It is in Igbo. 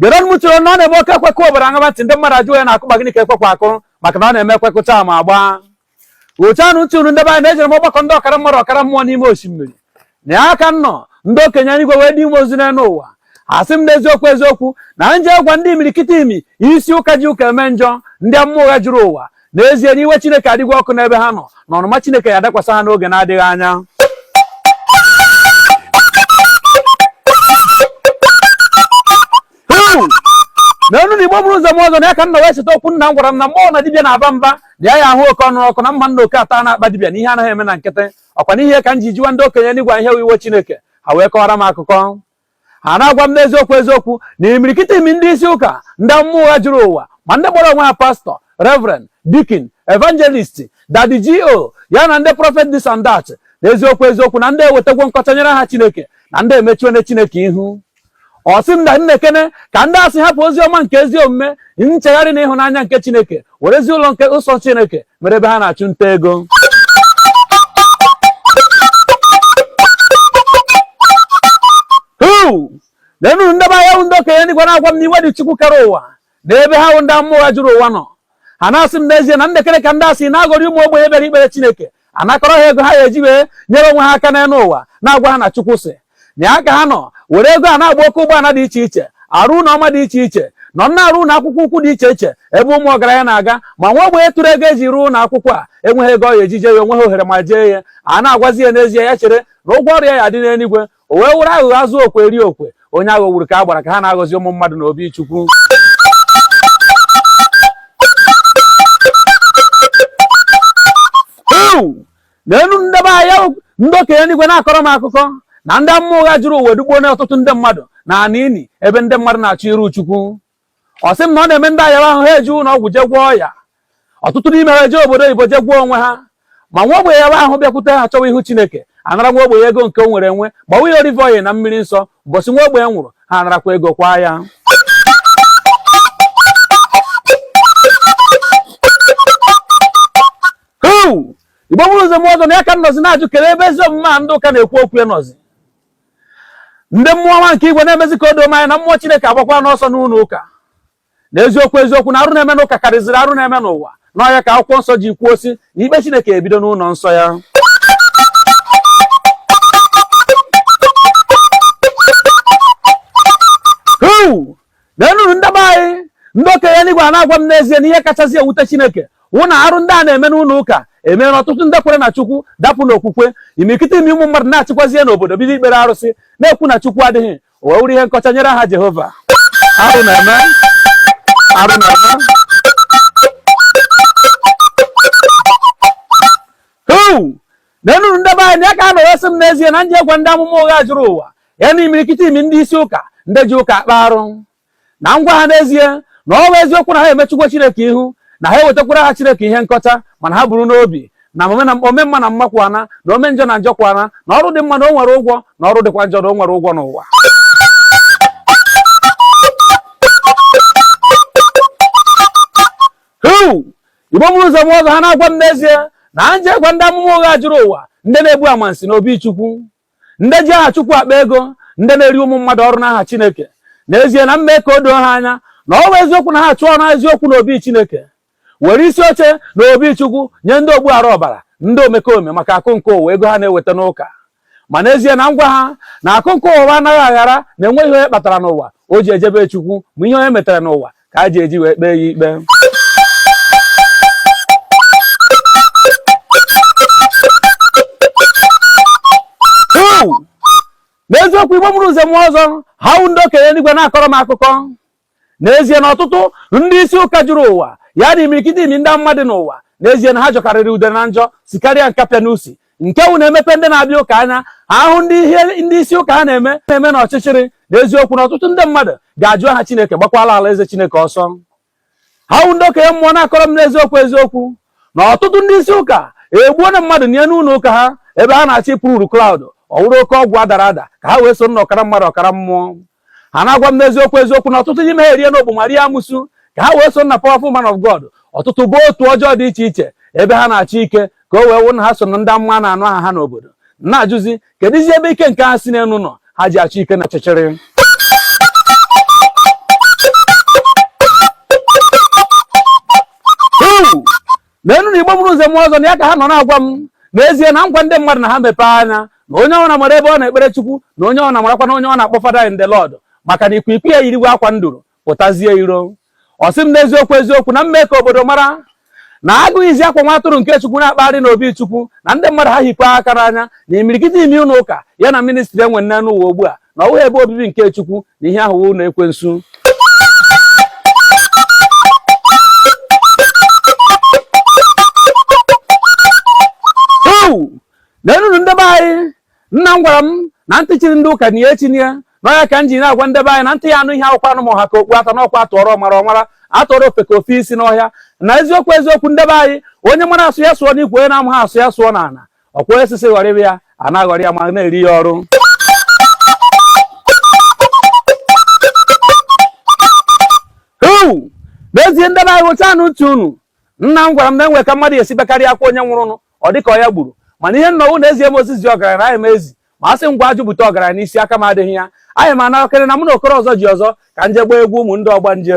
Gerenụ m ntị o na ọ na-eme oke ekwe kụọ obodo aṅaba ntị ndị mmadụ ajụ ya na-akụ ma gịnị ka ekwekwa akụ maka na ọ na-eme ekwe kụcha ma agba otu anụ ntị unu ndị be anyị na ejere m ọgbakọ ndị ọkara mmadụ ọkara mmụọ n'ime osimiri na ya ka m nọ ndị okenye igwe wee dị ime ozi n'elu ụwa asị m n'eziokwu eziokwu na m je gwa ndị imirikiti imi isi ụka ji ụka eme njọ ndị amụma ụgha juru ụwa n'ezie na iwe Chineke adịgwo ọkụ n'ebe ha nọ na ọnụma Chineke ya-adakwasa ha n'oge na-adịghị anya neenụ Igbo buru ụzọ ma ụzọ na ya ka m nọ wee cheta okwu nna m gwara m na m nụ na dibịa na-aba mba na ya ya-ahụ oke ọnụ ọkụ na m ma na oke atana akpa dibịa na ihe anaghị eme na nkịtị ọkwa n'ihe ka m ji jụwa ndị okenye n'igwe ihe iwe Chineke ha wee kọwara m akụkọ ha na-agwa m n'eziokwu eziokwu na imirikiti imi ndị isi ụka ndị amụma ụgha juru ụwa ma ndị kpọrọ onwe ha pastor reverend deacon evangelist daddy G.O. ya na ndị prophet this and that na eziokwu eziokwu na ndị a ewetagwo nkọcha nyere aha chineke na ndị a emechuone chineke ihu ọ sị m na m nekene ka ndị a si hapụ ozi ọma nke ezi omume nchegharị na ịhụnanya nke chineke werezi ụlọ nke nsọ chineke mere ebe ha na-achụ nta ego leenụ ndị be anyị ndị okenye n'igwe na-agwa m na iwe dị chukwu kere ụwa na ebe ha wụ ndị amụma ụgha juru ụwa nọ ha na-asị m n'ezie na m nekene ka ndị a si na-aghọrị ụmụ ogbenye bịara ikpere chineke anakọrọ ha ego ha ya-eji wee nyere onwe ha aka n'elu ụwa na-agwa ha na Chukwu sị na ya ka ha nọ were ego a na-agba oke ụgbọala dị iche iche arụ ụlọ ọma dị iche iche nọ na-arụ ụlọ akwụkwọ ukwu dị iche iche ebe ụmụ ọgaranya na-aga ma nwa ogbenye tụrụ ego e ji rụọ ụlọ akwụkwọ a enweghị ego ọ ya-eji je ya onweghị ohere ma jee ya a na-agwazi ya n'ezie ya chere na ụgwọ ọrụ ya ya-adị n'eluigwe o wee wụrụ aghụghọ azụ okwe eri okwe onye aghọgburu ka a gbara ka ha na-aghọzi ụmụ mmadụ na obi chukwu neenụ ndị be anyị ndị okenye n'igwe na-akọrọ m akụkọ na ndị amụma ụgha juru ụwa edugbuona ọtụtụ ndị mmadụ n'ana ini ebe ndị mmadụ na-achọ iru chukwu ọ sị m na ọ na-eme ndị a yawa ahụ ha eje ụlọ ọgwụ jee gwọọ ya ọtụtụ n'ime ha eje obodo oyibo jee gwọọ onwe ha ma nwa ogbenye yawa ahụ bịakwute ha chọwa ihu chineke anara nwa ogbenye ego nke o nwere enwe gbawa ya olive oil na mmiri nsọ ụbọchị nwa ogbenye nwụrụ ha anarakwa ego kwaa ya igbo buru ụzọ ma ụzọ na ya ka m nọzi na-ajụ kelee ebe ezi omume a ndị ụka na-ekwu okwu ya nọzi ndị mmụọ ọma nke igwe na-emezi ka o doo m anya na mmụọ chineke agbakwana ọsọ n'ụlọ ụka na eziokwu eziokwu na arụ na-eme n'ụka karịziri arụ na-eme n'ụwa na ọ ya ka akwụkwọ nsọ ji kwuo sị na ikpe chineke ebido n'ụlọ nsọ ya leenụnụ ndị be anyị ndị okenye eluigwe a na-agwa m n'ezie na ihe kachasị ewute chineke wụ na arụ ndị a na-eme n'ụlọ ụka emeela ọtụtụ ndị kwere na chukwu dapụ n'okwukwe imirikiti ime ụmụ mmadụ nachikwazie n'obodo bido ikpere arụsị na-ekwu na chukwu adịghị o wee wụrụ ihe nkọcha nyere aha jehova arụ na-eme neenụnụ ndị be anyị ya ka ha nọrọ sị m n'ezie na nje gwa ndị amụma ụgha juru ụwa ya na imirikiti ime ndị isi ụka ndị ji ụka akpa arụ na ngwa ha n'ezie na ọ bụ eziokwu na ha emechukwa chineke ihu na ha ewetakwara aha chineke ihe nkọcha mana ha buru n'obi na ome mma na mma kwana na ome njọ na njọ kwana na ọrụ dị mma na o nwere ụgwọ na ọrụ dịkwa njọ na o nwere ụgwọ n'ụwa igbo mụrụ nze mụọ ọzọ ha na-agwa m n'ezie na nje gwa ndị amụma ụgha juru ụwa ndị na-egbu amansi na obi chukwu ndị ji aha chukwu akpa ego ndị na-eri ụmụ mmadụ ọrụ n'aha chineke n'ezie na mme ka o doo ha anya na ọ bụ eziokwu na ha achụọna eziokwu na obi chineke were isi oche na obi chukwu nye ndị ogbu ara ọbara ndị omekome maka akụ nke ụwa ego ha na-eweta n'ụka ma n'ezie na ngwa ha na akụ nke ụwa anaghị aghara na enweghị onye kpatara n'ụwa o ji ejebe chukwu ma ihe onye metara n'ụwa ka a ji eji wee kpee ya ikpe n'eziokwu igbo mụrụ nze mụọ ọzọ ha wụ ndị okenye eluigwe na-akọrọ m akụkọ n'ezie na ọtụtụ ndị isi ụka juru ụwa ya na imirikiti ime ndị mmadụ n'ụwa n'ezie na ha jọkarịrị udene njọ sikarịa nkapị n'usi nke wụ na e mepee ndị na-abịa ụka anya ha hụ ihe ndị isi ụka ha na-eme na ọchịchịrị n'eziokwu na ọtụtụ ndị mmadụ ga-ajụ aha Chineke gbakwala alaeze Chineke ọsọ ha wụ ndị okenye mmụọ na-akọrọ m n'eziokwu eziokwu na ọtụtụ ndị isi ụka egbuona mmadụ nie n'ụlọ ụka ha ebe ha na-achọ ịpull crowd ọ wụrụ oke ọgwụ adara ada ka ha wee so na ọkara mmadụ ọkara mmụọ ha na-agwa m n'eziokwu eziokwu na ọtụtụ n'ime ha eriena ọgbọma rie amusu ka ha wee so na powerful man of God ọtụtụ baa otu ọjọọ dị iche iche ebe ha na-achọ ike ka o wee wụ na ha so na ndị amụma na-anụ aha ha n'obodo na-ajụzi kedụzi ebe ike nke ha si n'elu nọ ha ji achọ ike na ọchịchịrị neenụ na igbo mụrụ nze mụọ ọzọ na ya ka ha nọ na-agwa m n'ezie na ngwa ndị mmadụ na ha mepee anya na onye ọbụla mara ebe ọ na-ekpere chukwu na onye ọbụla marakwa na onye ọ na-akpọ father in the lord maka na ikwiikwii eyiriwe akwa nduru pụtazie iro ọ sị m n'eziokwu eziokwu na mme ka obodo mara na agụ yizi akwa nwa atụrụ nke chukwu na-akpagharị n'obi chukwu na ndị mmadụ ha hikwaa aka n'anya na imirikiti ime ụlọ ụka ya na ministry e nwere n'ụwa ugbu a na ọ wụghị ebe obibi nke Chukwu na ihe ahụ wụ ụlọ ekwensu na enunu ndebe anyị nna m gwara m na ntị chiri ndị ụka na ya echine n'ọha ka m ji na-agwa ndebe anyị na ntị ya anụ ihe awụkwanụ ma ọ ha ka okpu ata n'ọkwa atụọrọ ọmara ọ mara atụọrọ ofeke o fee isi n'ọhịa na eziokwu eziokwu ndebe anyị onye mara asụ ya sụọ n'ikwe onye na-amaghị asụ ya sụọ n'ala ọkwa osisi ghọrịba ya a na-aghọrị ya ma na-eri ya ọrụ n'ezie ndị nna hụchaanụ ntị unu nna m gwara m na e nwee ka mmadụ ya esi bekarịa akwa onye nwụrụnụ ọ dịka ọ ya gburu mana ihe m nọ wụ na ezie m ozi zi ọgaranya na aya m ezi ma a sị ngwa jụpụta ọgaranya n'isi aka m adịghị ya anyị ma anarakịrị na mụ na okoro ọzọ ji ọzọ ka m jee gbaa egwu ụmụ ndị ọgbanje